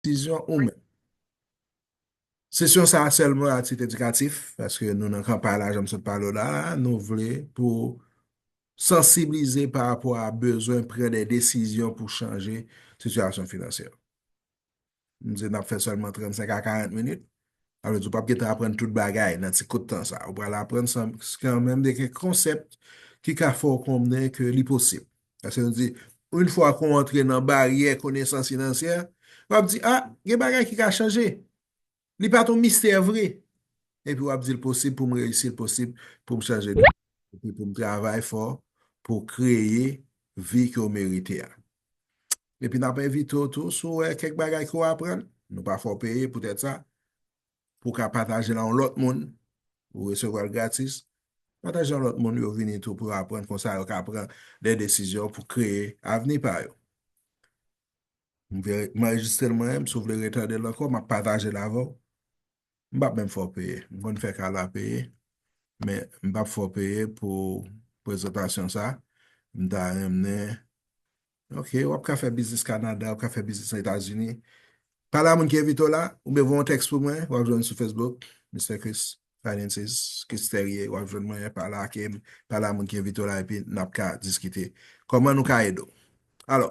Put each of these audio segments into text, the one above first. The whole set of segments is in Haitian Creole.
Desizyon ou menm. Sesyon sa a sèlman a tit edikatif, paske nou nan kanpay la jan m sot pale w la a, nou vle pou sansiblize pa rapò a bezwen pran de desizyon pou chanje sitiyasyon finansyè. M di n ap fè sèlman 35 a 40 minit, Sa vle di ou pap gen tan aprann tout bagay nan ti kout tan sa. Ou pral aprann kan menm de kèk konsèp ki ka fè ou konnen ke li posib. Paske nou di, yon fwa ke ou antre nan baryè konesans finansyè, w ap di, a, gen bagay ki ka chanje. Li pa t yon mistè vre. Epi w ap di l posib pou m reyisi, l posib pou m chanje de vi, epi pou m travay fò pou kreye vi ke w merite a. Epi n ap envite w tou, si w wè kèk bagay ke w aprann, nou pa fè w peye poutèt sa, pou w ka pataje l a yon lòt moun, ou resevwa l gratis, pataje l a lòt moun yo vini tou pou yo aprann konsa yo ka pran de desizyon pou kreye avni pa yo. M anrejistre l mwen menm, si w vle retande l ankò, m ap pataje l avè w. M pap menm fè w peye. M konn fè Carla peye, men m pap fè w peye pou prezantasyon sa. M ta renmnen Ok, w ap ka fè biznis Kanada, w ap ka fè biznis Etazini. Pale a moun ki envite w la, oubyen voye yon tèks pou mwen, w ap jwenn sou Facebook, Mister Chris Finances, Chris Therier, w ap jwenn mwen, pale ak m, pale a moun ki envite w la, epi n ap ka diskite kòman nou ka ede w. Alò,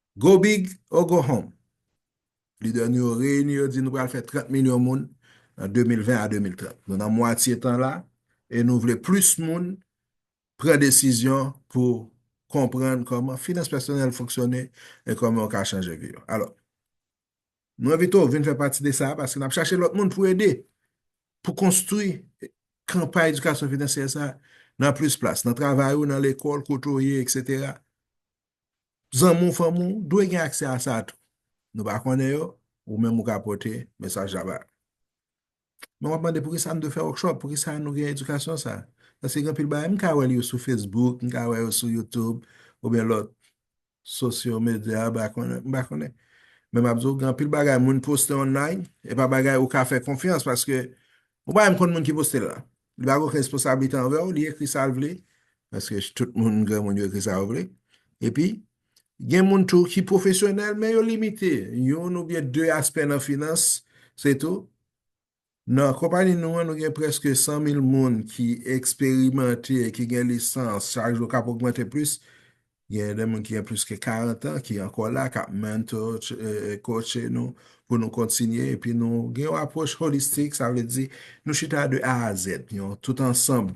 Go big or go home! Lidè nou yo reyini yo di nou pral fè 30 milyon moun nan 2020 a 2030. Nou nan mwatye tan la e nou vle plis moun pran desizyon pou konprann kòman finans pèsonèl fonksyone e kòman yo ka chanje vi yo. Alò, nou envite w vin fè pati de sa a paske n ap chache lòt moun pou ede pou konstwi kanpay edikasyon finansyè sa a nan plis plas, nan travay ou, nan lekòl, kote w ye, eksetera. Zanmi w, fanmi w, dwe gen aksè a sa tou. Nou pa konnen yo, ou menm ou ka pote mesaj la ba yo. Men w ap mande poukisa m dwe fè workshop, poukisa nou gen edikasyon sa? Paske gen anpil bagay, m ka wè l yo sou Facebook, m ka wè yo sou YouTube oubyen lòt sosyo medya, m pa konnen. Men m ap di w gen anpil bagay moun poste online, e pa bagay ou ka fè konfyans paske ou pa menm konn moun ki poste l la. Li pa gen okenn responsablite anvè w, li ekri sa l vle, paske tout moun granmoun yo ekri sa yo vle. Epi, gen moun tou ki pwofesyonèl, men yo limite youn oubyen de aspè nan finans, se tou. Nan konpani nou an, nou gen prèske 100 mil moun ki eksperimante, ki gen lisans, chak jou k ap ogmante plis, Gen de moun ki gen plis ke 40 an ki ankò la, k ap mentor, coacher nou pou nou kontinye. Epi nou gen yon apwòch holistik, sa vle di nou chita de A a Z, yon tout ansanm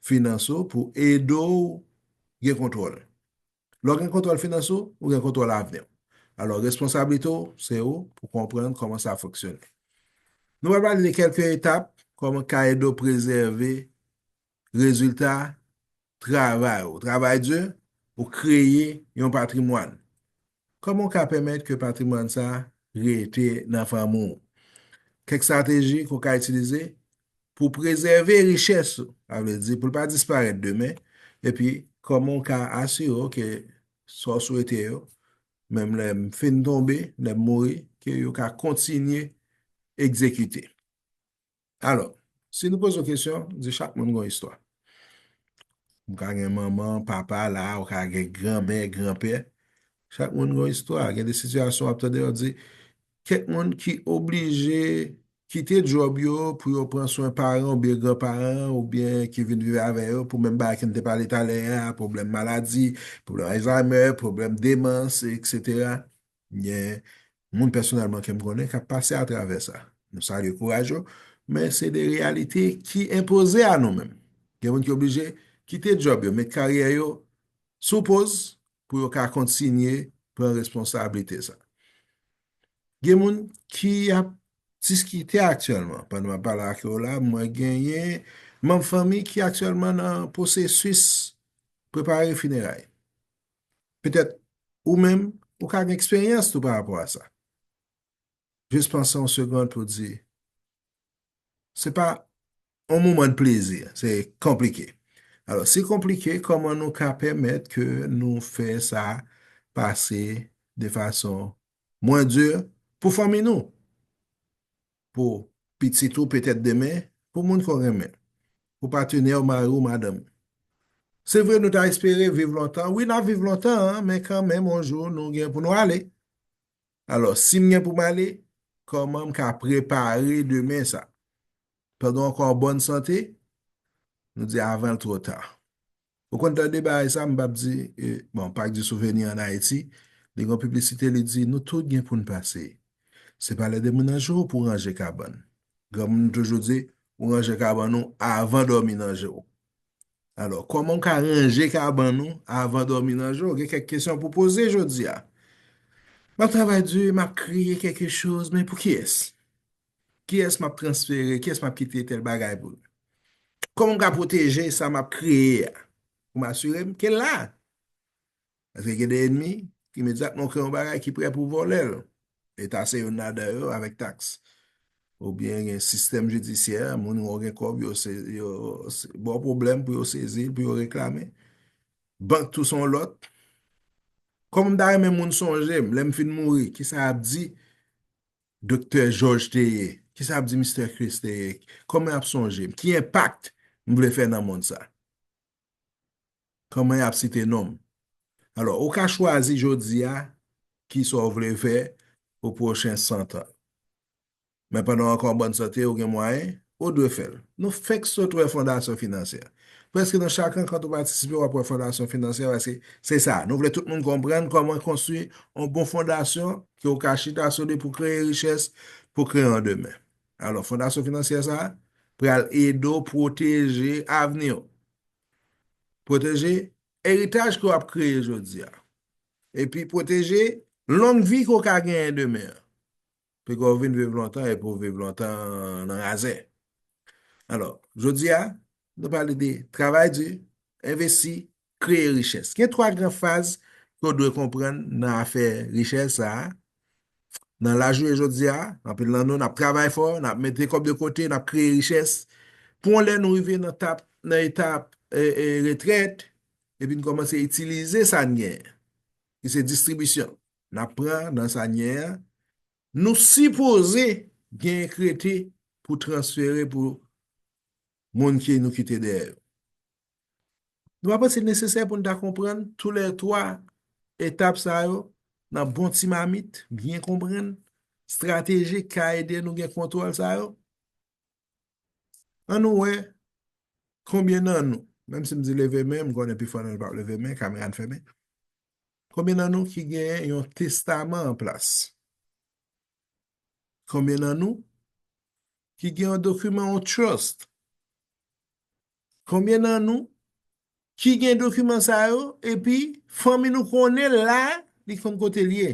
finans ou pou ede w gen kontwòl. Lè w gen kontwòl finans ou, ou gen kontwòl avni w. Alò responsablite w se ou pou konprann kòman sa fonksyone. Nou pral pale de kèlke etap kòman w ka ede w prezève rezilta travay ou, travay di, ou kreye yon patrimwàn. Kòman ou ka pèmèt ke patrimwàn sa a rete nan fanmi ou? Kèk strateji ke ou ka itilize pou prezève richès ou, sa vle di pou l pa disparèt demen, epi kòman ou ka asire w ke sa ou swete yo, menm lè m fin tonbe, lè m mouri, ke yo ka kontinye egzekite. Alò, si nou poze w kesyon, nou di chak moun gen yon istwa. Ou ka gen manman, papa la, ou ka gen granmè, granpè. Chak moun gen yon istwa. Gen de sitiyasyon w ap tande yo di, kèk moun ki oblije kite djòb yo pou yo pran swen paran oubyen granparan oubyen ki vin viv avè yo pou menm bagay ke n te pale talè a, pwoblèm maladi, pwoblèm Alzheimer, pwoblèm demans, eksetera. M gen moun pèsonèlman ke m konnen kap pase atravè sa. Nou salye kouraj yo, men se de reyalite ki enpoze a nou menm. Gen moun ki oblije kite djòb yo, met karyè yo sou poz pou yo ka kontinye pran responsablite sa. Gen moun ki ap diskite aktyèlman, pandan map pale ak ou la, mwen genyen manm fanmi ki aktyèlman nan pwosesis prepare fineray. Petèt ou menm, ou ka gen eksperyans tou pa rapò a sa. Jis panse yon segond pou w di, Se pa yon moman de plezi, se konplike. Alò, si konplike, kòman nou ka pèmèt ke nou fè sa pase de fason mwen di pou fanmi nou? Pou pitit ou petèt demen, pou moun ke w renmen. Pou patenè w, mari w, madanm ou. Se vre nou ta espere viv lontan, wi n ap viv lontan, men kanmenm yon jou nou gen pou nou ale. Alò, si m gen pou m ale, kòman m ka prepare demen sa? Pandan w ankò an bòn sante, nou di avan l twò ta. Ou konn tande bagay sa m pap di bon pak di souveni an Ayiti li gon piblisite li di nou tout gen poun pase se pa lè demoun nan je w pou ranje kabann granmoun toujou di ou ranje kabann ou avan dòmi nan je w alò kòman ou ka ranje kabann ou avan dòmi nan je w gen kèk kesyon pou poze jodi a map travay di map kreye kèke choz men pou kiyès Kiyès m ap transfere? Kiyès m ap kite tèl bagay pou l? Kòman m ka pwoteje sa m ap kreye a pou m asire m ke l la? Paske gen de enmi ki imedyatman ou kreye yon bagay ki prè pou vòlè l. Leta se youn ladan yo avèk taks. Oubyen gen sistèm jidisyè, moun wè w gen kòb yo ba w pwoblèm pou yo sezi l, pou yo reklame. Bank tou se yon lòt. Kòman m ta renmen moun sonje m lè m fin mouri? Kisa y ap di Doktè Jòj te ye? Ki sa ap di Mistè Kris te ye? Kòman y ap sonje m? Ki enpak m vle fè nan mond sa? Kòman y ap site non m? Alò, ou ka chwazi jodi a ki sa w vle fè pou pwochen 100 tan. Men pandan w ankò an bòn sante, ou gen mwayen Ou dwe fè l. Nou fèk sot wè Fondasyon Finansyè. Prèske nan chak rankant ou patisipe w ap wè Fondasyon Finansyè paske se sa, nou vle tout moun konprann kòman konstwi yon bon fondasyon ke ou ka chita sou li pou kreye richès, pou kreye yon demen. Alò, Fondasyon Finansyè sa a pral ede w pwoteje avni w, pwoteje eritaj ke w ap kreye jodi a, epi pwoteje long vi ke w ka genyen demen an. Pou kò w vin viv lontan e pou w viv lontan nan razè. Alò, jodi a, nou pale de travay di, envesti, kreye richès. Gen 3 gran faz ke w dwe konprann nan afè richès sa a. Nan lajounen jodi a, anpil nan nou n ap travay fò, n ap mete kòb de kote, n ap kreye richès. Pou yon lè nou rive nan tap, nan etap retrèt, epi n kòmanse itilize sa n gen, ki se distribisyon. nap pran nan sa nye a nou sipoze gen krete pou transfere pou moun ki nou kite dèyè yo. Nou pa panse li nesesè pou nou ta konprann tou lè 3 etap sa yo nan bon ti mamit, byen konprann, stratejik ka ede nou gen kontwòl sa yo? An nou wè konbyen nan nou, menm si m di leve men, m konnen pifò nan nou pap leve men, kamera n fèmen, konbyen nan nou ki gen yon testaman an plas? Konbyen nan nou ki gen yon dokiman yon trust? Konbyen nan nou ki gen dokiman sa yo epi fanmi nou konnen l la, li konn kote l ye?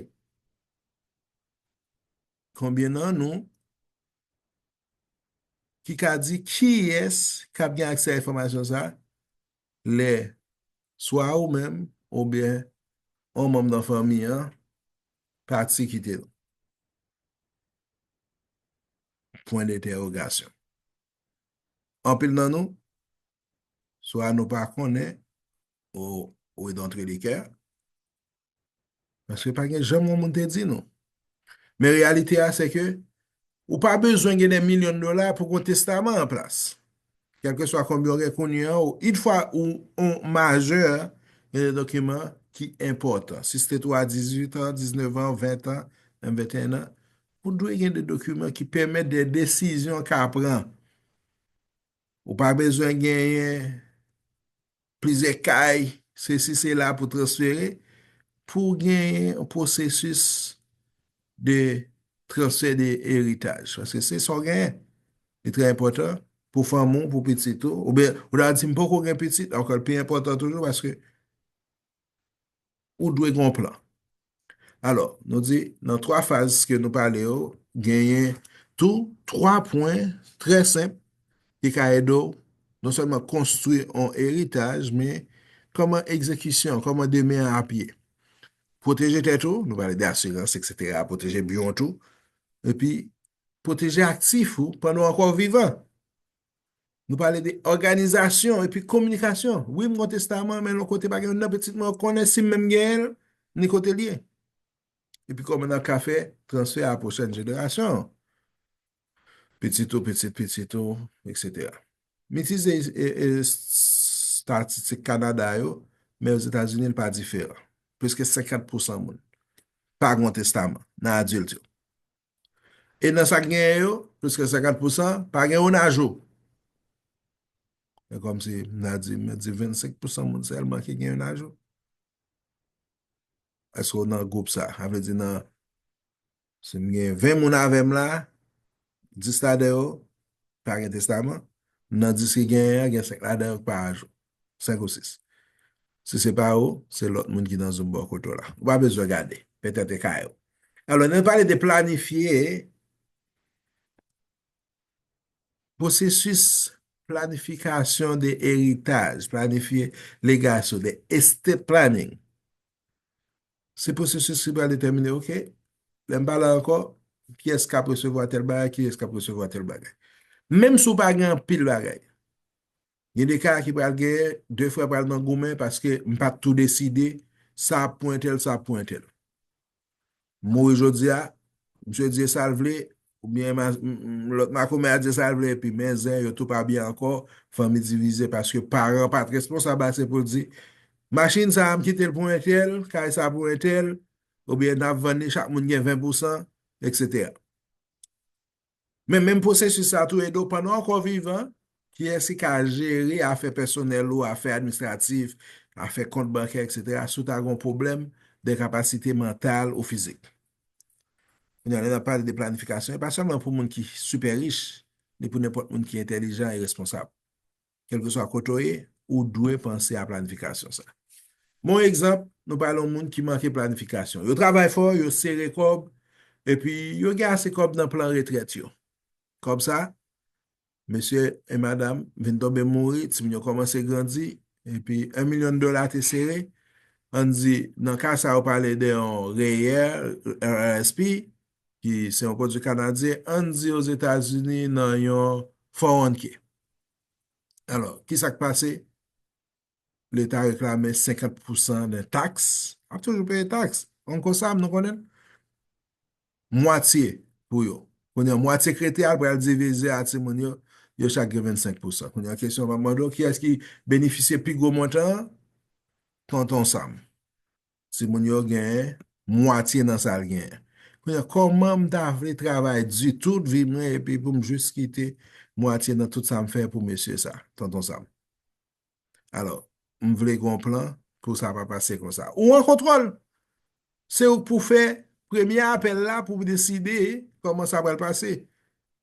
Konbyen nan nou ki ka di kiyès k ap gen aksè a enfòmasyon sa a lè swa ou menm oubyen yon manm nan fanmi an pati kite nou? pwen de entèwogasyon. Anpil nan nou, swa nou pa konnen, ou we dantredikè, Paske pa gen janm yon moun te di nou. Men reyalite a se ke ou pa bezwen gen de milyon dola pou kon testaman an plas. Kèlke swa konbyen ou gen kounye an, ou it fwa ou on majè, gen de dokiman ki enpòtan. Si se te tou a 18 an, 19 an, 20 an, menm 21 an, ou dwe gen de dokiman ki pèmèt de desizyon ka pran. Ou pa bezwen genyen. Plizyè kay, sesi sela pou transfere, pou genyen yon pwosesis de transfè de eritaj. Paske se sa w genyen. Li trè enpòtan pou fanmi w, pou pitit ou. Oubyen, ou ta di m poko gen pitit, ankò l pi enpòtan toujou paske ou dwe gen yon plan. Alò, nou di nan 3 faz ke nou pale yo, genyen tou 3 pwen trè senp ki ka ede w non sèlman konstwi yon eritaj, men kòman egzekisyon, kòman demen an ap ye. Pwoteje tèt ou, nou pale de asirans eksetera, pwoteje byen w tou, epi pwoteje aktif ou pandan w ankò vivan. Nou pale de òganizasyon epi kominikasyon. Wi, m gen yon testaman, men lò kote pa gen nan pitit mwen yo konnen si m menm genyen l, ni kote l ye. Epi kòman nan ka fè transfè a pwochèn jenerasyon an? Pitit ou, pitit pitit ou, eksetera. M itilize estatistik Kanada yo, men Ozetazini li pa diferan. Pliske 50 pousan moun pa gen yon testaman nan adilt yo. E nan sa ki genyen yo, plis ke 50 pousan, pa gen youn ajou. E kòm si, m ta di, m ta di 25 pousan moun sèlman ki gen youn ajou. Eske w nan gwoup sa? A vle di nan, si m gen 20 moun avè m la, 10 ladan yo pa gen testaman, nan 10 ki genyen an, gen 5 ladan yo ki pa ajou. 5 ou 6. Si se pa ou, se lòt moun ki nan zoom bò kote w la. Ou pa bezwen gade. Petèt e ka yo. Alò, lè nou pale de planifye, pwosesis planifikasyon de eritaj, planifye legasyon, de estate planning, se pwosesis ki pral detèmine, ok, lè m pa la ankò, kiyès k ap resevwa tèl bagay, kiyès k ap resevwa tèl bagay. Menm si ou pa gen anpil bagay, Gen de ka ki pral genyen, de frè pral nan goumen paske m pa tou deside sa ap pou entèl, sa ap pou entèl. M mouri jodi a, misye di e sa l vle, oubyen lòt makomè a di e sa l vle epi men zen yo tou pa byen ankò, fanmi divize paske paran pa t responsab ase pou l di machin sa a m kite l pou entèl, kay sa a pou entèl, oubyen n ap vann li chak moun gen 20 pousan, eksetera. Men menm pwosesis sa tou ede w pandan w ankò vivan, kiyès ki ka jere afè pèsonèl ou, afè administratif, afè kont bankè etc. Si w ta gen yon pwoblèm denkapasite mantal ou fizik. Kounye a lè n ap pale de planifikasyon e pa sèlman pou moun ki sipè rich, ni pou nenpòt moun ki entèlijan e responsab. Kèlkeswa kote w ye, ou dwe panse a planifikasyon sa. Men yon egzanp, nou pale yon moun ki manke planifikasyon. Yo travay fò, yo sere kòb, epi yo gen ase kòb nan plan retrèt yo. Kòb sa, mesye e madam vin tonbe mouri, timoun yo kòmanse grandi, epi 1 milyon dola te sere, ann di nan ka sa yo pale de yon REER, RRSP, ki se yon pwodui kanadyen, ann di Ozetazini nan yon 401k. Alò, ki sa k pase? Leta reklame 50 pousan de taks. Ap toujou peye taks. An kon sa, nou konnen? Mwatye pou yo. Kounye, mwatye krete al pral divize a timoun yo, yo chak gen 25 pousan. Kounye, kesyon pa mando, ki as ki benefisye pi gwo montan? Tonton Sam. Timoun yo gen mwatye nan sa l gen. Kounye a, kòman m ta vle travay di tout vi mwen epi pou m jis kite mwatye nan tout sa m fè pou mesye sa, Tonton Sam? Alò, m vle gen yon plan pou sa pa pase konsa. Ou an kontwòl! Se ou k pou fè premye apèl la pou deside kòman sa pral pase.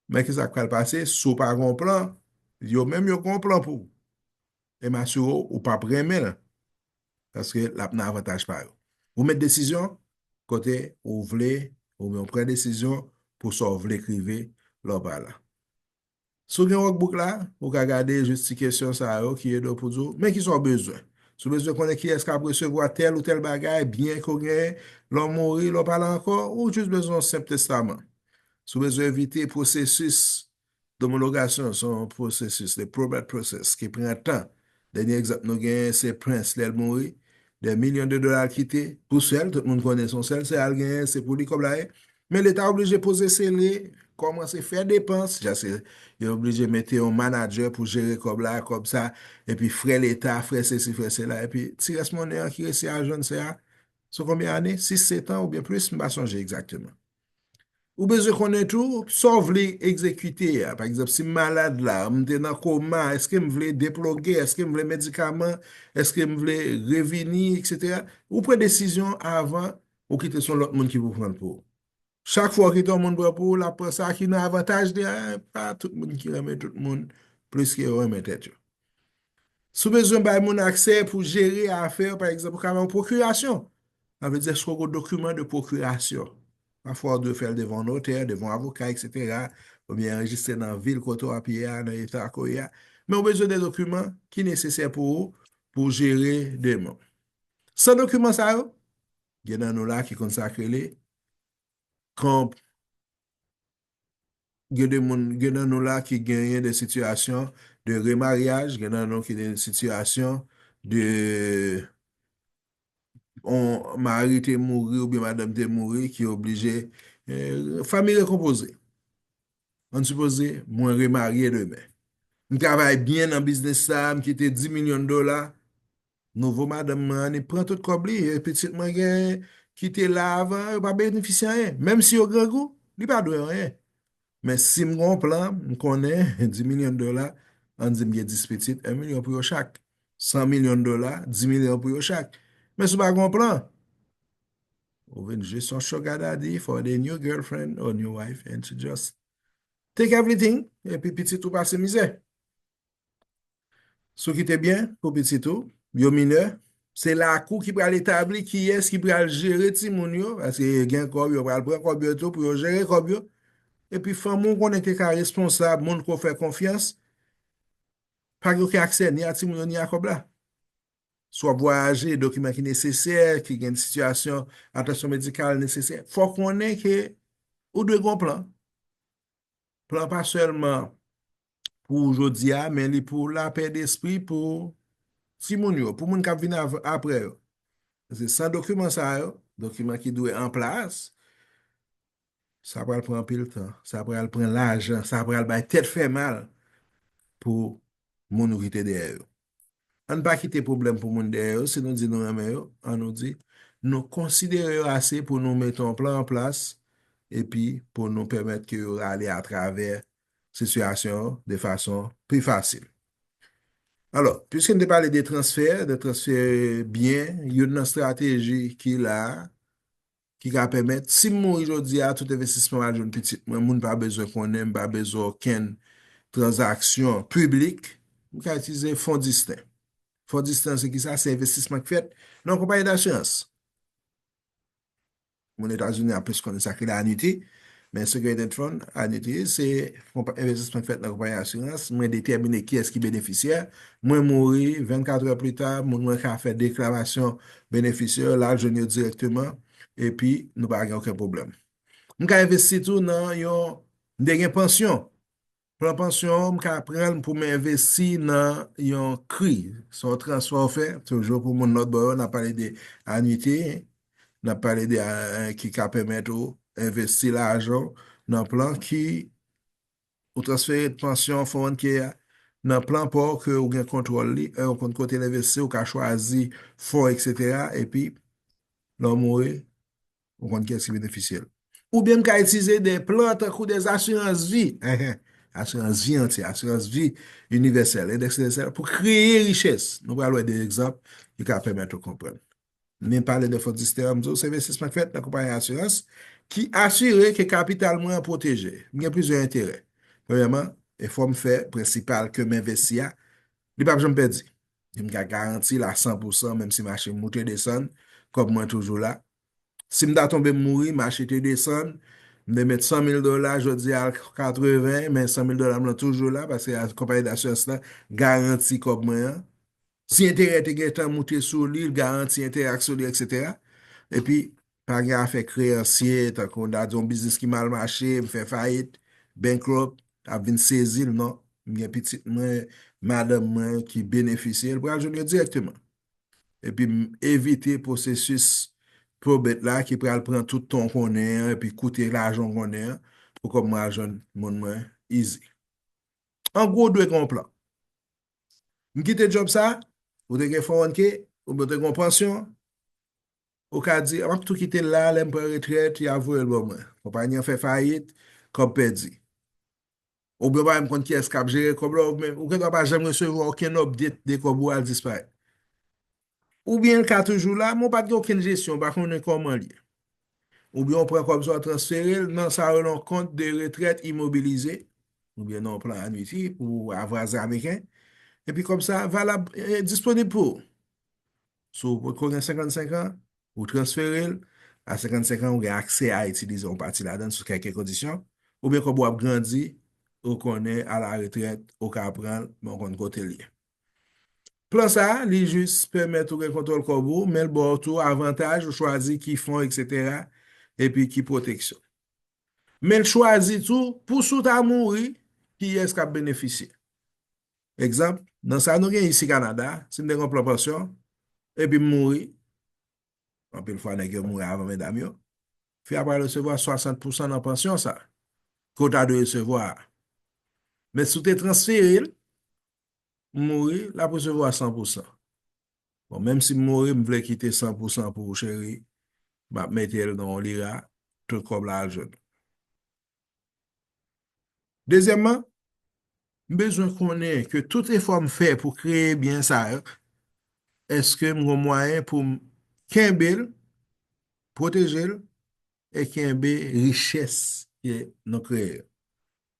Men ki sa k pral pase si w pa gen yon plan, yo menm yo gen yon plan pou ou. E m asire w, ou pap renmen l. paske l ap nan avantaj pa yo. Ou met desizyon kote ou vle oubyen ou pran desizyon pou sa w vle k rive lè w pa la. Si w gen wòkbouk la, ou ka gade jis ti kesyon sa yo ki ede w pou di w men kisa w bezwen. Si w bezwen konnen kiyès k ap resevwa tèl ou tèl bagay, byen ke w genyen lè w mouri, lè w pa la ankò, ou jis bezwen yon senp testaman. Si w bezwen evite pwosesis Domologasyon se yon pwosesis, the probate process, ki pran tan. Dènye egzanp nou genyen se Prince lè l mouri, dè milyon de dola l kite pou sè l, tout moun konnen se yon sè l, sè a l genyen se pou li kòb la ye, men leta oblije poze sele, kòmanse fè depans, jaske yo oblije mete yon manadjè pou jere kòb la, kòb sa, epi frè leta, frè sesi, frè sela, epi ti rès monnen an ki resi al jwenn sè a, sou konbyen ane? Sis, setan oubyen plis, m pa sonje egzakteman. Ou bezwen konnen tou, sa w vle egzekite a. Pa egzanp, si m malad la, m te nan koma, eske m vle deploge, eske m vle medikaman, eske m vle revini, eksetera. Ou pran desizyon avan ou kite son lòt moun ki pou pran l pou ou. Chak fwa ou kite yon moun pran pou ou, l ap pran sa ki nan avantaj li a, e pa tout moun ki renmen tout moun plis ke yo renmen tèt yo. Si w bezwen bay moun aksè pou jere afè, pa egzanp, ou ka bay yon pwokirasyon. Sa vle di èske w gen yon dokiman de pwokirasyon. Pafwa ou dwe fè l devan yon notè, devan yon avoka, eksetera, oubyen anrejistre nan vil kote w ap ye a, nan eta ke w ye a. Men ou bezwen de dokiman ki nesesè pou ou, pou w jere deman. San dokiman sa yo, gen nan nou la ki konn sa k rele, gen de moun, gen nan nou la ki genyen de sitiyasyon de remaryaj, gen nan nou ki gen sitiyasyon de yon mari te mouri oubyen madanm te mouri ki oblije, fanmi rekonpoze. An sipoze mwen remarye demen. M travay byen nan biznis sa, m kite 10 milyon dola, Nouvo madanm mwen an li pran tout kòb li e pitit mwen gen ki te la avan yo pa benefisye anyen. Menm si yo grangou, li pa dwe anyen. Men si m gen yon plan, m konnen di milyon dola, ann di m gen dis pitit, 1 milyon pou yo chak. San milyon dola, di milyon pou yo chak. Men si w pa gen yon plan, ou vin jis yon sugar daddy for the new girlfriend or new wife and she just take everything epi pitit ou pase mizè. Si w kite byen pou pitit ou yo minè, se lakou ki pral etabli kiyès ki pral jere timoun yo, paske gen kòb yo pral pran kòb yo tou pou yo jere kòb yo, epi fanmi w konnen te ka responsab moun ke w fè konfyans, pa gen oken aksè ni a timoun yo ni a kòb la. Si w ap vwayaje, dokiman ki nesesè, ki gen sitiyasyon atansyon medikal nesesè, fò w konnen ke ou dwe gen yon plan. Plan pa sèlman pou jodi a, men li pou lapè despri pou timoun yo, pou moun k ap vin apre yo. Paske san dokiman sa yo, dokiman ki dwe an plas, sa pral pran anpil tan, sa pral pran lajan, sa pral bay tèt fè mal pou moun nou kite dèyè yo. Ann pa kite pwoblèm pou moun dèyè yo, si nou di nou renmen yo, an nou di, nou konsidere yo ase pou nou mete yon plan an plas epi pou nou pèmèt ke yo rale atravè sitiyasyon an de fason pi fasil. Alò, pwiske n te pale de transfè, de transfè byen, youn nan strateji ki la a, ki ka pèmèt si m mouri jodi a tout envestisman m al jwenn pitit mwen moun pa bezwen konnen m pa bezwen okenn tranzaksyon piblik m ka itilize fon distin fon distin an se ki sa se envestisman ki fèt nan yon konpayi dasirans moun etazini ap plis konnen sa ki la anite. Men se Great Dent Fund a di tou, se yon envestisman ki fèt nan konpayi asirans, mwen detèmine kiyès ki benefisyè, mwen mouri, 24 è pli ta, moun mwen ka fè deklarasyon benefisyè yo, l al jwenn yo dirèkteman, epi nou pa gen oken pwoblèm. M ka envesti tou nan yon, m te gen pansyon, Plan pansyon ou, m ka pran l pou m envesti nan yon CRI. Sa w transfè w fè, toujou pou moun lòtbò yo, n ap pale de anite, n ap pale de ki ka pèmèt ou envesti lajan w nan plan ki ou transfere pansyon 401k a nan plan pa w ke ou gen kontwòl li, ou konn kote l envesti, ou ka chwazi fon, eksetera, epi lè w mouri, Ou konn kiyès ki benefisye l. Oubyen m ka itilize de plan tankou de asirans vi, enhen, asirans vi antye, asirans vi inivèsèl, endèks inivèsèl, pou kreye richès. Nou pral wè de egzanp ki ka pèmèt ou konprann. Men pale de fond Istera, m di w se envestisman k fèt nan konpayi asirans ki asire ke kapital mwen an pwoteje. M gen plizyè enterè. Premyèman, efò m fè prensipal ke m envesti a, li p ap janm pèdi. Em ka garanti l a 100 pou 100 menm si mache moute desann, kòb mwen toujou la. Si m ta tonbe m mouri, mache te desann, m te met 100 mil dola, jodi a l 80, men 100 mil dola m lan toujou la, paske konpayi dasirans lan garanti kòb mwen an. Si enterè te gen tan moute sou li, l garanti enterè ak sou li, eksetera. Epi, Pa gen afè kreyansye, tankou on dat di on biznis ki mal mache, m fè fayit, bankrupt, ap vin sezi l non. M gen pitit mwen, madanm mwen ki benefisye, l pral jwenn yo dirèkteman. Epi m evite pwosesis probate la ki pral pran tout tan w konnen an epi koute lajan w konnen an pou kòm mwen al jwenn moun mwen easy. An gwo, w dwe gen on plan. M kite djòb sa, ou te gen 401k, oubyen w te gen on pansyon, Ou ka di, M ap tou kite l la, lè m pran retrèt, y a voye l ba mwen. Konpayi an fè fayit, kòb pèdi. Oubyen w pa menm konn kiyès k ap jere kòb la, oubyen ou gendwa pa janm resevwa okenn update de kòb ou a disparèt. Oubyen l ka toujou la, men ou pa t gen okenn jesyon, ou pa konnen kòman l ye. Oubyen ou pran kòb sa ou transfere l nan sa yo rele yon kont de retrèt imobilize, oubyen nan yon plan anwiti pou avwaze ameriken, epi kòb sa a valab, disponib pou ou. Si w potko gen 55 an, ou transfere l, a 55 an ou gen aksè a itilize yon pati ladan l sou kèlke kondisyon, oubyen kòb ou ap grandi, ou konnen alaretrèt ou ka pran l men w konn kote l ye. Plan sa a, li jis pèmèt ou gen kontwòl kòb ou, men l ba w tou avantaj ou chwazi ki fon eksetera epi ki pwoteksyon. Men l chwazi tou pou si w ta mouri, kiyès k ap benefisye. Egzanp, nan sa nou gen isi Kanada, si m te gen yon plan pansyon, epi m mouri, anpil fwa nèg yo mouri avan medam yo, fi a pral resevwa 60 pousan nan pansyon sa, ke w ta dwe resevwa a. Men si w te transfere l, m mouri, l ap resevwa 100 pousan. Bon, menm si m mouri, m vle kite 100 pousan pou w cheri, m ap mete l nan yon lira, tout kòb la al jwenn ou. Dezyèmman, m bezwen konnen ke tout efò m fè pou kreye byen sa yo, èske m gen mwayen pou m kenbe l, pwoteje l, e kenbe richès ke nou kreye yo,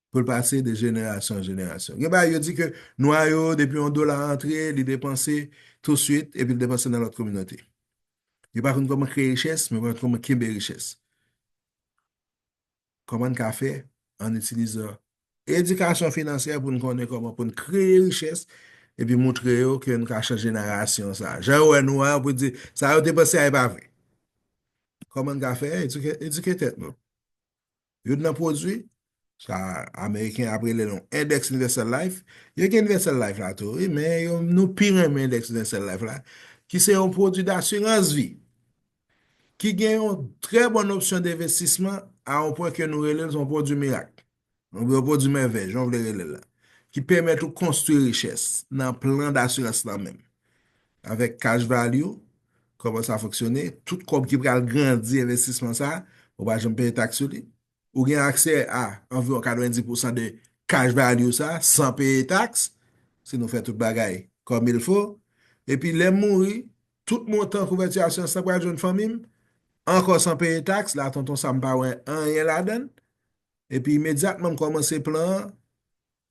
pou l pase de jenerasyon an jenerasyon. Gen bagay yo di ke nwa yo, depi yon dola antre, li depanse tousuit, epi l depanse nan lòt kominote. Yo pa konn kòman kreye richès, men yo konn kòman kenbe richès. Kòman n ka fè? Ann itilizan edikasyon finansyè pou n konnen kòman pou n kreye richès epi moutre yo ke n ka chanje narasyon sa a. Jan yo wè nou a, yo pou di, sa yo te panse a e pa vre. Kòman n ka fè? Edike tèt nou. Youn nan pwodui, sa Ameriken ap rele l yon Index Universal Life, yo gen Universal Life la tou wi, men nou pi renmen Index Universal Life la, ki se yon pwodui dasirans vi. ki gen yon trè bòn opsyon denvestisman a yon pwen ke nou rele l se yon pwodui mirak, oubyen yon pwodui mèvèy, jan w vle rele l la, ki pèmèt ou konstwi richès nan plan dasirans lan menm. Avèk cash value, kòman sa fonksyone, tout kòb ki pral grandi envestisman sa, ou pa janm peye taks sou li, Ou gen aksè a anviwon 90 pousan de cash value sa san peye taks, si nou fè tout bagay kòmilfo. Epi lè m mouri, tout montan kouvèti asyans lan pral jwenn fanmi m, ankò san peye taks, la tonton Sam pa wè anyen ladan l. Epi imedyatman m kòmanse plan an,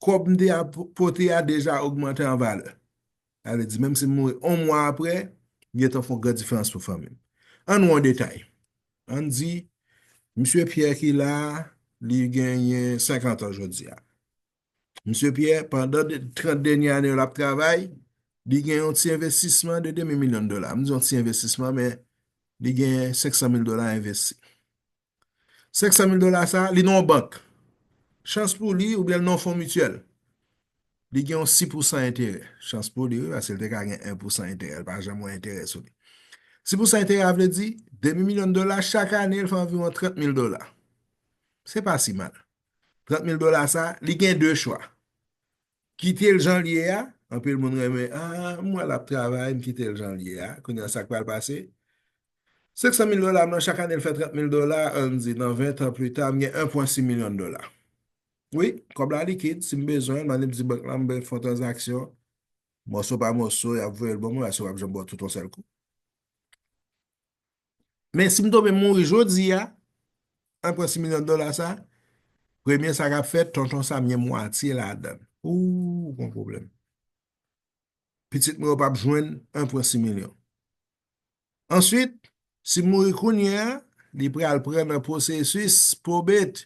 kòb m te ap pote a deja ogmante an valè. Sa vle di menm si m mouri on mwa apre, li gentan fon gran diferans pou fanmi m. Ann wè on detay. Ann di, Msye Pyè ki la a, li genyen 50 an jodi a. Msye Pyè, pandan 30 dènye ane yo l ap travay, li gen on ti envestisman de demi milyon dola. M di on ti envestisman men li gen 500 mil dola envesti. 500 mil dola sa a, li nan yon bank. Chans pou li, oubyen li nan yon fon mityèl. Li gen yon 6 pousan enterè. Chans pou li wi, paske li te ka gen 1 pousan enterè. Li pa janm wè enterè sou li. 6 pousan enterè a vle di, demi milyon dola, chak ane li fè anviwon 30 mil dola. Se pa si mal. 30 mil dola sa a, li gen 2 chwa. Kite l jan l ye a, anpil moun renmen, a, m wè l ap travay, m kite l jan l ye a, kounye a sa k pral pase? 500 mil dola m lan, chak ane l fè 30 mil dola, an n di nan 20 tan plita, m gen 1,6 milyon dola. Wi, kòb la likid, si m bezwen l, m annik di bank lan m fè yon tranzaksyon, mòso pa mòso, y ap voye l ban mwen, paske yo pa p janm ba w tout yon sèl kou. Men si m tonbe mouri jodi a, an pran 6 milyon dola sa, premye sa k ap fèt, tonton Sam gen mwatye ladan l. Ooh, ou gon pwoblèm. Pitit mwen yo p ap jwenn an pran 6 milyon. Answit, si m mouri kounye a, li pral pran nan pwosesis pwobet.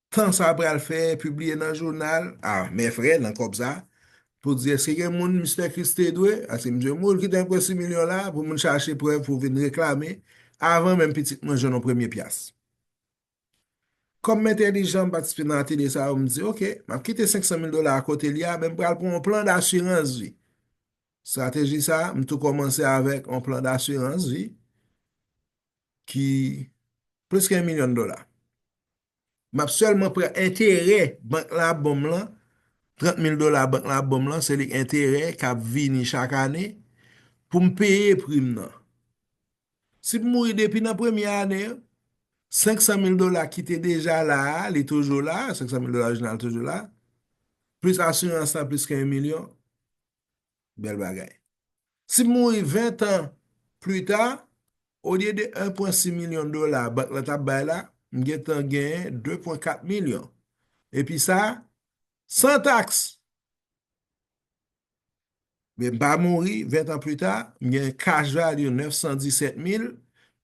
tan sa pral fè pibliye nan jounal ah men frè nan kòb sa pou di eske gen moun Mister Christ te dwe aske misye mouri l kite anpwen 6 milyon la pou moun chache prèv pou vin reklame avan menm pitit mwen jwenn yon premye pyas kòm m entèlijan m patisipe nan atelye sa yo m di ok m ap kite 500 mil dola a kote li a men m pral pran yon plan dasirans vi strateji sa m tou kòmanse avèk yon plan dasirans vi ki plis ke 1 milyon dola Map sèlman pran enterè bank lan ap banm lan, 30 mil dola bank lan ap banm lan, se li enterè kap vini chak ane poum peye prim nan. Si m mouri depi nan premye ane an, 500 mil dola ki te deja la a, li toujou la, 500 mil dola orijinal toujou la, plis asirans lan plis ke 1 milyon, Bèl bagay. Si m mouri 20 tan plita, olye de 1 pwen 6 milyon dola bank la t ap bay la, m gen tan genyen 2 pwen 4 milyon. Epi sa, san taks! Men m pa mouri, 20 tan plita, m gen cash value 917 mil,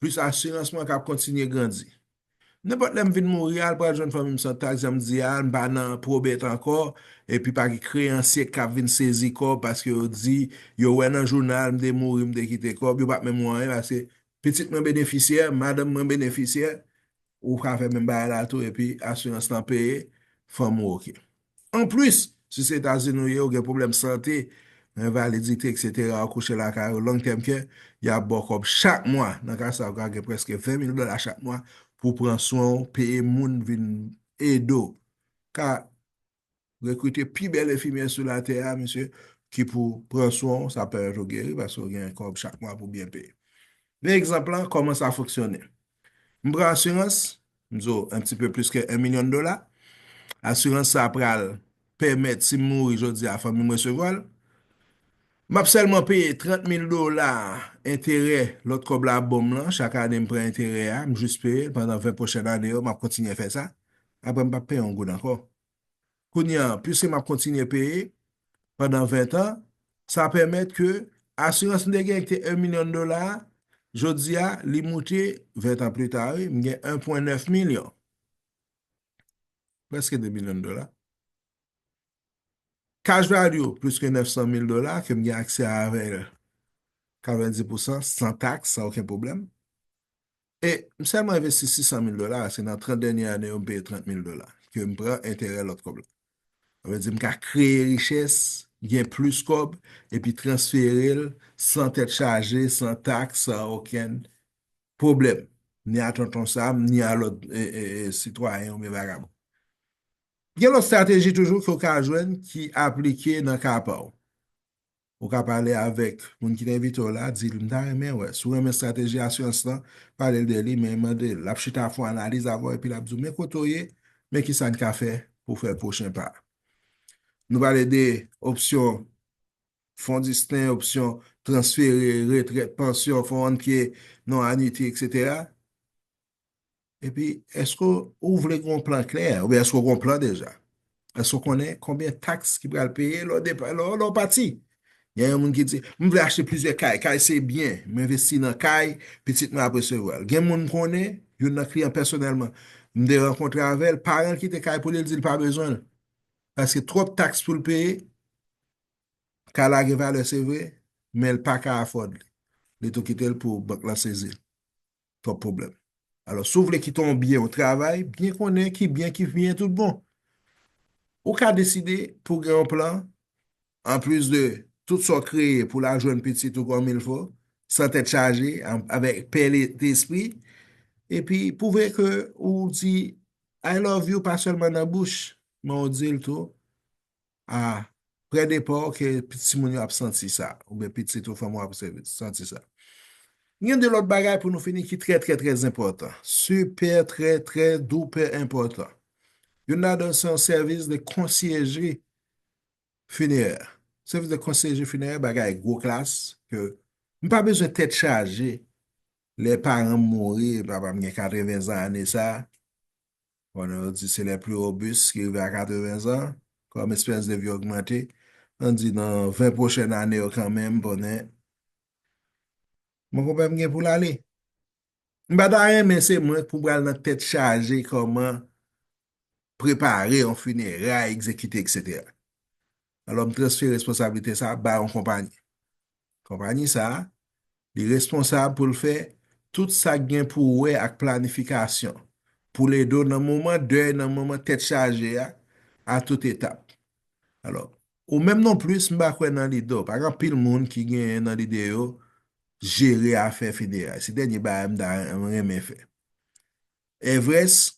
plis asirans mwen k ap kontinye grandi. Nenpòt lè m vin mouri a, l pral jwenn fanmi m san taks, jan m di a, m pa nan pwobèt ankò, epi pa gen kreyansye k ap vin sezi kòb paske yo di, yo wè nan jounal m te mouri, m te kite kòb, yo pap menm wè anyen paske pitit mwen benefisyè, madanm mwen benefisyè, ou ka fè menm bagay la tou epi asirans lan peye, fanm ou oke. Anplis, si se Etazini ou ye, ou gen pwoblèm sante, envalidite, eksetera, ou kouche lakay ou long tèm kè, y ap ba w kòb chak mwa. Nan ka sa, ou ka gen prèske 20 mil dola chak mwa pou w pran swen w, peye moun vin ede w. Ka rekrite pi bèl enfimyè sou latè a, mesye, ki pou pran swen w, sa ap pèmèt ou geri paske ou gen kòb chak mwa pou w byen peye. Men egzanp lan, kòman sa fonksyone. M pran asirans, m zo un petit peu plus que 1 million dola, asirans sa pral pèmèt si m mouri jodi a fanmi m resevwa l, m ap sèlman peye 30 mil dola enterè lòt kòb la ap ban m lan, chak ane m pran enterè a, m jis peye l pandan 20 pwochèn ane yo, m ap kontinye fè sa, aprè m p ap peye yon goud ankò. Kounye a, piske m ap kontinye peye pandan ventan, sa pèmèt ke asirans m te genyen ki te 1 milyon dola a, jodi a, li moute, ventan plita wi, m gen 1 pwen 9 milyon. Prèske 2 milyon dola. Cash value plis ke 900 mil dola ke m gen aksè avè l 90 pousan, san taks, san oken pwoblèm. E m sèlman envesti 600 mil dola, se nan 30 dènye ane yo m peye 30 mil dola, ke m pran enterè lòt kòb la. Sa vle di m ka kreye richès, gen plis kòb, epi transfere l san tèt chaje, san taks, san okenn pwoblèm, ni a Tonton Sam, ni a lòt sitwayen oubyen vagabon. Gen lòt strateji toujou ke w ka jwenn ki aplike nan ka pa w. Ou ka pale avèk moun ki te envite w la, di l, M ta renmen wè si w renmen estrateji asirans lan, pale l de li, men mande l. L ap chita fè yon analiz avè w epi l ap di w, Men kote w ye, men kisa n ka fè pou w fè pwochen pa a. Nou pale de opsyon fon disten, opsyon transfere, retrèt, pansyon, fon annpye, non anwiti, eksetera. Epi, eske ou vle gen yon plan klè, oubyen eske ou gen yon plan deja? Eske ou konnen konbyen taks ki pral peye lè ou pati? Gen yon moun ki di, m vle achte plizyè kay, kay se byen, m envesti nan kay, pitit mwen ap resevwa l. Gen moun m konnen, youn nan kliyan pèsonèlman, m te rankontre avè l, paran l kite kay pou li, li di l pa bezwen l, paske twòp taks pou l peye, kay la gen valè se vre, men l pa ka afford li, li tou kite l pou bank lan sezi l. twòp pwoblèm. Alò si w vle kite yon byen ou travay byen konnen ki byen ki byen tout bon. Ou ka deside pou gen yon plan anplis de tout sa w kreye pou la jwenn pitit ou kòmilfo san tèt chaje avèk pè lespri epi pwouve ke ou di I love you pa sèlman nan bouch men ou di l tou Ah prè depa w ke timoun yo ap santi sa oubyen pitit ou, fanmi w ap santi sa. N gen de lòt bagay pou nou fini ki trè trè trè zenpòtan, sipè trè trè doupè enpòtan. Youn ladan l se yon sèvis de konsiyejri finerè. Sèvis de konsiyejri finerè bagay gwo klas ke m pa bezwen tèt chaje lè paran m mouri, papa m gen 80 zan ane sa, Konnen yo di se les plus robustes ki rive a 80 zan, kòm espèranse de vie ogmante, an di nan 20 pwochèn ane yo kanmenm, konnen, monkonpè m gen pou l ale. M pa ta renmen se mwen pou pral nan tèt chaje kòman prepare yon fineray, egzekite, etc. Alò m transfere responsablite sa a bay yon konpayi. Konpayi sa, li responsab pou l fè tout sa k gen pou wè ak planifikasyon, pou l ede w nan moman dèy, nan moman tèt chaje a, a tout etap. Alò, ou menm non plis, m pa kwè nan lide w. Pa gen anpil moun ki gen nan lide yo jere afè fineray. Se dènye bagay m ta renmen fè. Evres,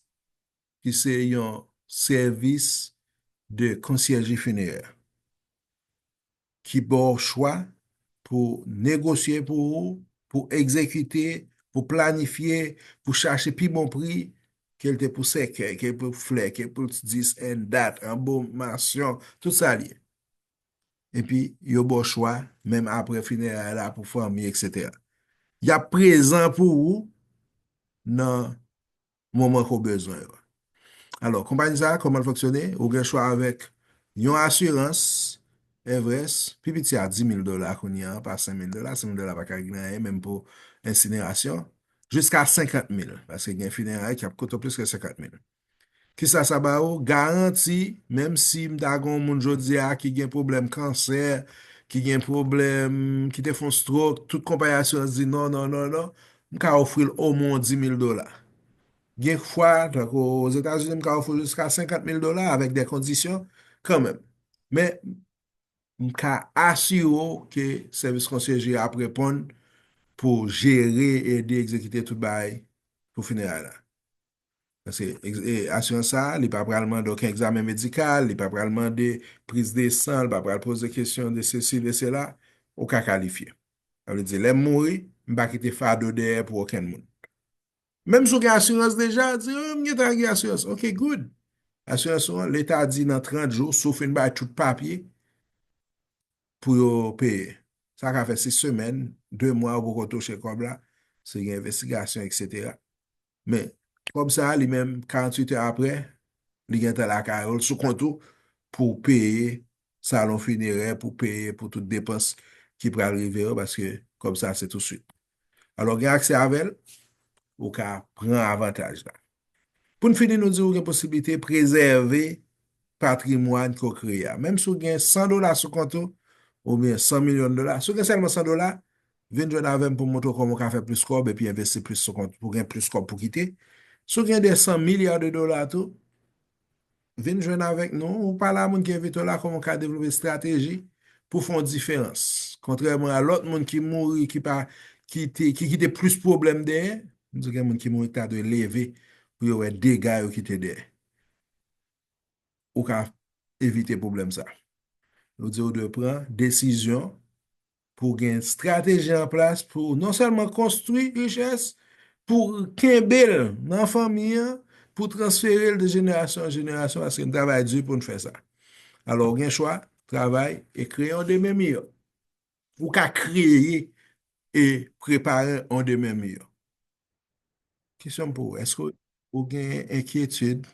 ki se yon sèvis de konsyèji finerè, ki ba w chwa pou negosye pou ou, pou egzekite, pou planifye, pou chache pi bon pri, ke l te pou sèkèy, ke l pou flè, ke l pou dis, en dat, anbomasyon, tout sa l ye. Epi, yo ba w chwa, menm apre fineray la, pou fanmi, eksetera. Y ap prezan pou ou nan moman ke w bezwen yo. Alò, konpayi sa a, kòman l fonksyone? Ou gen chwa avèk yon asirans Everest, pi piti a 10 mil dola kounye a, pa 5 mil dola, 5 mil dola pa ka regle anyen, menm pou ensinerasyon, jiska 50 mil, paske gen fineray ki ap koute plis ke 50 mil. Kisa sa ba ou? Garanti, menm si m ta gen yon moun jodi a ki gen pwoblèm kansè, ki gen pwoblèm, ki te fè yon strok, tout konpayi asirans di non, non, non, non, M ka ofri l omwon dimil dola. Gen fwa, tankou Ozetazini, m ka ofri l jiska senkant mil dola avèk de kondisyon kanmenm. Men, m ka asire w ke sèvis konsyeje a ap reponn pou jere, ede, egzekite tout bagay pou fineray la. Paske asirans sa a, li pa pral mande oken egzamen medikal, li pa pral mande priz de san, li pa pral poze kesyon de sesi, de sela, ou ka kalifye. Sa vle di, lè m mouri, m pa kite fado dèyè pou okenn moun. Menm si w gen asirans deja, di, oh, m gentan gen asirans. Ok, good. Asirans ou an, leta di nan 30 jou, si w fin bay tout papye, pou yo peye. Sa ka fè 6 semèn, 2 mwa ou poko touche kòb la, si gen envestigasyon, eksetera. Men, kòb sa a li menm, 48 è apre, li gen tan lakay ou, sou kont ou, pou w peye salon finerè, pou w peye pou tout depans ki pral rive yo, paske kòb sa a se tousuit. Alò, gen aksè avè l, ou ka pran avantaj la. Pou n fini, nou di ou gen posiblite prezève patrimwàn ke w kreye a. Menm si w gen 100 dola sou kont ou, oubyen 100 milyon dola, si w gen sèlman 100 dola, Vin jwenn avè m pou m montre w kòman w ka fè plis kòb epi envesti plis sou kont pou w gen plis kòb pou w kite. Si w gen 200 milya de dola tou, vin jwenn avèk nou. Ou pale a moun ki envite w la kòman w ka devlope estrateji pou w fè yon diferans. Kontrèman a lòt moun ki mouri, ki pa, ki te, ki kite plis pwoblèm dèyè, m di w gen moun ki mouri ki ta dwe leve pou yo wè dega yo kite dèyè. Ou ka evite pwoblèm sa. Yo di w dwe pran desizyon pou w gen estrateji an plas pou w non sèlman konstwi richès, pou w kenbe l nan fanmi an, pou w transfere l de jenerasyon an jenerasyon paske n travay di pou n fè sa. Alò ou gen chwa, travay e kreye yon demen miyò. Pou w ka kreye e prepare yon demen miyò. Kesyon m pou ou, èske ou gen enkyetid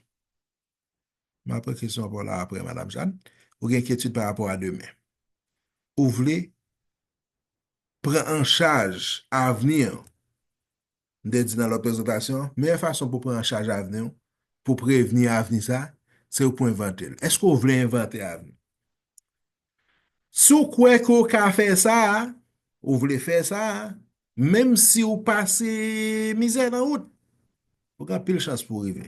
M aprann kesyon pa w la aprè, Madam Jeanne. Ou gen enkyetid pa rapò a demen. Ou vle pran an chaj avni w. M te di nan lòt prezantasyon an, meyè fason pou w pran an chaj avni w, pou w prevni avni sa, se pou w envante l. Èske w vle envante avni? Si w kwè ke w ka fè sa, ou vle fè sa, menm si w pase mizè nan wout, ou gen anpil chans pou w rive.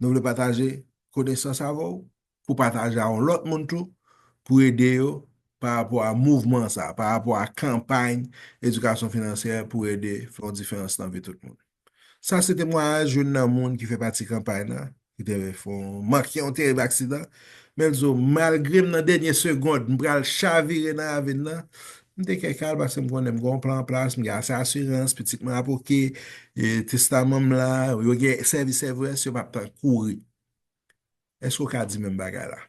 Nou vle pataje konesans avè w pou w pataje a yon lòt moun tou pou ede yo pa rapò a mouvman sa a, pa rapò a kanpay edikasyon finansyè pou ede fè yon diferans nan vi tout moun. Sa se temwayaj youn nan moun ki fè pati kanpay la ki te fè yon manke yon terib aksidan men l di yo, Malgre m nan dènye segond m pral chavire nan ravin nan, M te kè kal paske m konnen m gen yon plan an plas, m gen ase asirans, pitit mwen ap oke, testaman m la, yo gen sèvis evres, yo pa p tan kouri. Èske ou ka di menm bagay la?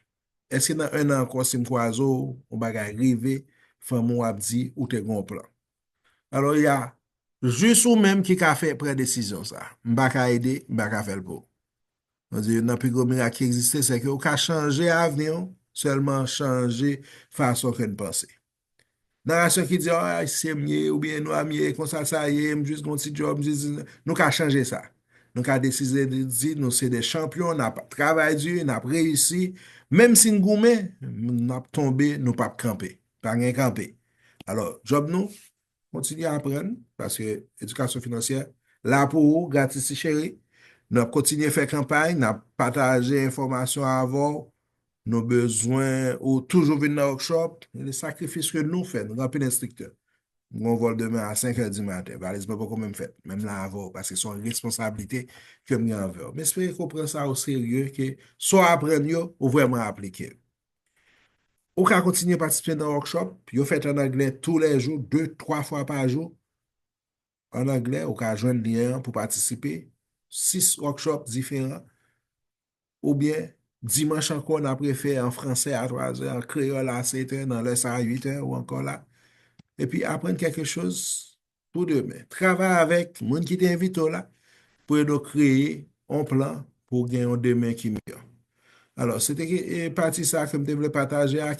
Èske nan ennan ankò si m kwaze w, yon bagay rive, fanmi w ap di ou te gen yon plan? Alò y a jis ou menm ki ka fè pran desizyon sa a. M pa ka ede, m pa ka fè l pou ou. Mwen di, youn nan pi gwo mirak ki egziste, se ke ou ka chanje avni ou, sèlman chanje fason ke n panse. Narasyon ki di, ah, ayisyen m ye, ou byen nwa m ye, konsa sa ye, m jis gen yon ti djòb, m jis di, nou ka chanje sa. Nou ka deside di, nou se de chanpyon, n ap travay di, n ap reyisi, menm si n goumen, n ap tonbe, nou p ap kanpe. Pa gen kanpe. Alò, djòb nou, Kontinye aprann, paske edikasyon finansyè la pou ou gratis ti cheri. N ap kontinye fè kanpay, n ap pataje enfòmasyon avè w. Nou bezwen ou toujou vin nan workshop. Gen de sakrifis ke nou fè, nou gen anpil enstriktè. M gen yon vòl demen a 5 è di maten, valiz mwen poko menm fèt, men m la avè w paske se yon responsablite ke m gen anvè w. M espere ke w pran sa o serye, ke sa w aprann yo, ou vrèman aplike l. Ou ka kontinye patisipe nan workshop, yo fèt an anglè tou lè jou, 2, 3 fwa pa jou, an anglè, ou ka jwenn lyen an pou patisipe, 6 workshop diferan, oubyen dimanch ankò n ap refè an fransè a 3 zè, an kreyòl a 7 è, nan lè sa a 8 è, ou ankò la, epi aprann kèlke choz pou demen. Travay avèk moun ki te envite w la pou ede w kreye yon plan pou w gen yon demen ki miyò. Alò, se te pati sa ke m te vle pataje ak.